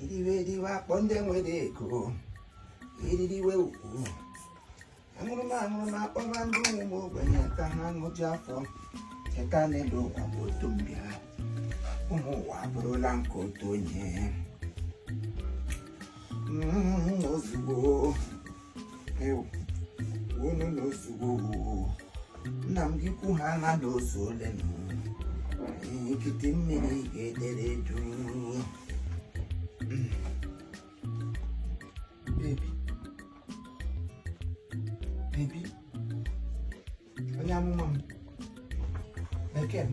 iriwe eriwe akpọ ndị nwere ego eririwe ukwu aṅụrụma aṅụrụma akpọba ndị ụmụ ogbenye ka ha ṅụju afọ cheta na elu ụwa bụ otu mbịa ụmụ ụwa abụrụla nke otu onye mm, ozugbo unu na ozugbo nna m gị kwu ha na na ozu ole na nkịtị mmiri ga-edere duu onye amụma m bekee m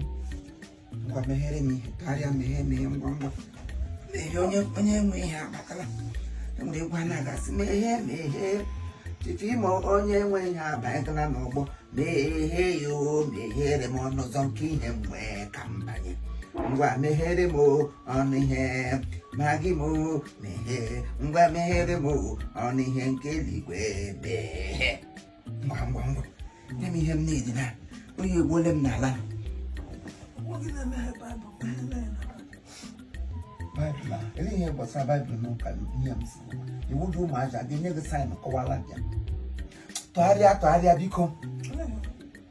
ngwa meghere m ihe karịa meghe meghe ngwa ngwa meghe onye nwe ihe abatala enwere egwu a na-agasị meghe meghe Chief Imo onye nwe ihe abanyela n'ọgbọ meghe ya o meghere m ọnụ ụzọ nke ihe m wee ka m banye ngwa meghere m o, ọnụ ihe Maggi m o, meghe ngwa meghere m o, ọnụ ihe nke eluigwe meghe ngwa ngwa ngwa nye m ihe m na-edi na oyi egbuole m n'ala baịbụl a ele ihe gbasara baịbụl na ụka nne m si iwu dị ụmụaja ga-enye gị saịn kọwara bịa tụgharịa tụgharịa biko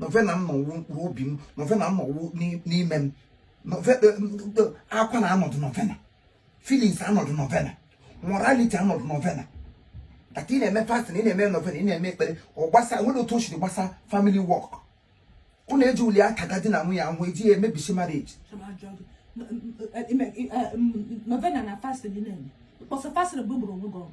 novena m nọ wụ mkpụrụ obi m novena m nọ wụ n'ime m novena e, e, akwa na anọdụ novena feelings anọdụ novena morality anọdụ novena aka ị na-eme fasting ị na-eme novena ị na-eme ekpere ọ gbasa nwere otu o siri gbasa family work unu eji uli aka ga di na nwunye ahụ eji ya emebisi marriage novena na fasting na-eme mkpọsa fasting bụ gburu onwe gị ọgụ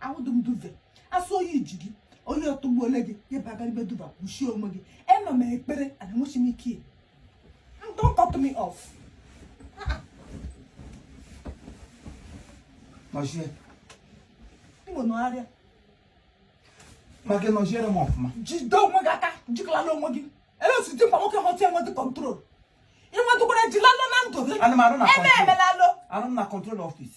ahụdụ m duve asị oyi ji gị oyi atụgbuole gị ebe agaribe duba kpuchie onwe gị ema m ekpere ana enwechi m ike don't cut me off nọchie iwe nọgharịa Maggi nọchiere m ọfụma jide onwe gị aka jikalala onwe gị ele osi dị mkpa nwoke họta enwedị control ịnwedụkwara jilalụ na ndụ gị Ana m arụ na ebe control. emelalụ arụ m na control office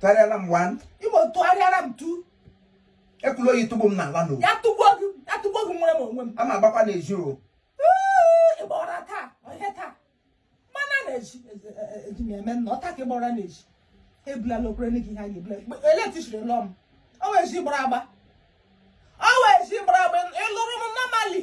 tụgharịara m one Imo tụgharịara m two ekwela oyi tụgbuo m n'ala n'o ya tụgbuo gị ya tụgbuo gị nwere m onwe m a ma agbakwa n'ezi o Ee, ịgba ụra taa ọhịa taa mana na-eji eji m eme nna ọta ka ịgba ụra na-eji ebulala okwere nne gị ihe a ga-ebula electricity lụọ m ọ wee ji gbara agba ọ wee ji gbara agba ịlụrụ m normally